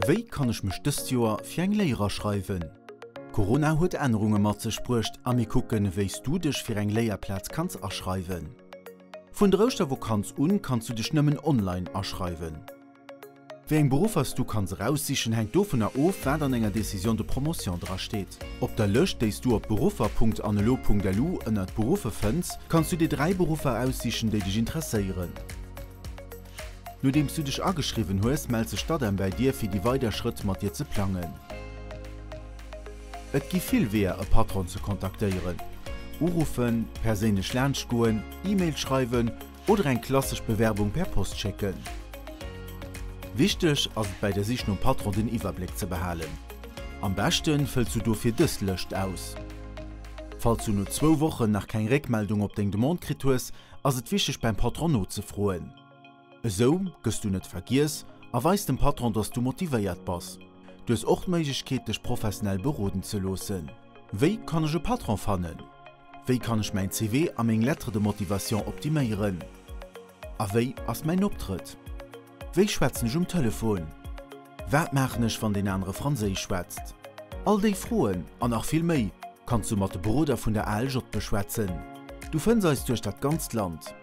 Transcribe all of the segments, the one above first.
Wéi kann ech mech dëst Joer fir eng Léier aschreiwen? Corona huet Ännerunge mat sech bruecht a mir kucken, wéis du dech fir eng Léierplaz kanns aschreiwen. Vun der Ouschtervokanz un kanns du dech nëmmen online aschreiwen. Wéi eng Beruffer s du kanns eraussichen, hänkt dovunner of, wat an enger Décision de promotion dra steet. Op der Lëscht, déi s du op beruffer.anelo.lu ënnert Beruffe fënns, kanns du dir dräi Beruffer eraussichen, déi dech interesséieren. Nodeems du dech ageschriwwen hues, mellt sech d'ADEM bäi dir fir déi weider Schrëtt mat dir ze plangen. Et gi vill Weeër e Patron ze kontaktéieren, Uruffen, perséinlech laanscht goen, E-Mail schreiwen oder eng klassesch Bewerbung per Post schécken. Wichteg ass et bäi der Sich nom Patron den Iwwerbléck ze behalen. Am beschte fëlls du dofir dës Lëscht aus. Falls du no zwou Wochen nach keng Réckmeldung op deng Demande kritt hues, ass et wichteg beim Patron nozefroen. Esou gëss du net vergiess a weis dem Patron, dass du motivéiert bass. Du hues och d'Méiglechkeet dech professionell beroden ze loossen. Wéi kann ech e Patron fannen? Wéi kann ech mäin CV a meng Lettre de motivation optiméieren? A wéi ass mäin Optrëtt? Wéi schwätzen ech um Telefon? Wat maachen ech wann deen anere Franséisch schwätzt? All déi Froen an nach vill méi kanns du mat de Beroder vun der ALJ beschwätzen. Du fënns eis duerch dat ganzt Land.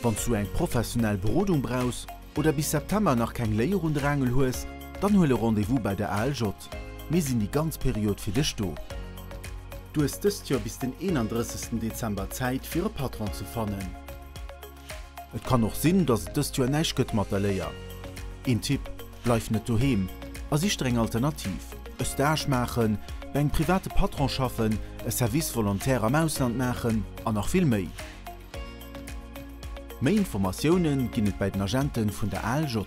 Wann s du eng professionell Berodung brauchs oder bis September nach keng Léier un de Rangel hues, dann huel e Rendez-vous bei der ALJ. Mir sinn déi ganz Period fir dech do. Du hues dëst Joer bis den 31 Dezember Zäit fir e Patron ze fannen. Et kann och sinn, dass et dëst Joer näischt gëtt mat der Léier. Een Tipp, Bleif net doheem a sich der eng Alternativ, e Stage maachen, bei engem private Patron schaffen, e Service volontaire am Ausland maachen an nach vill méi. Méi Informatiounen ginn et bei den Agenten vun der ALJ.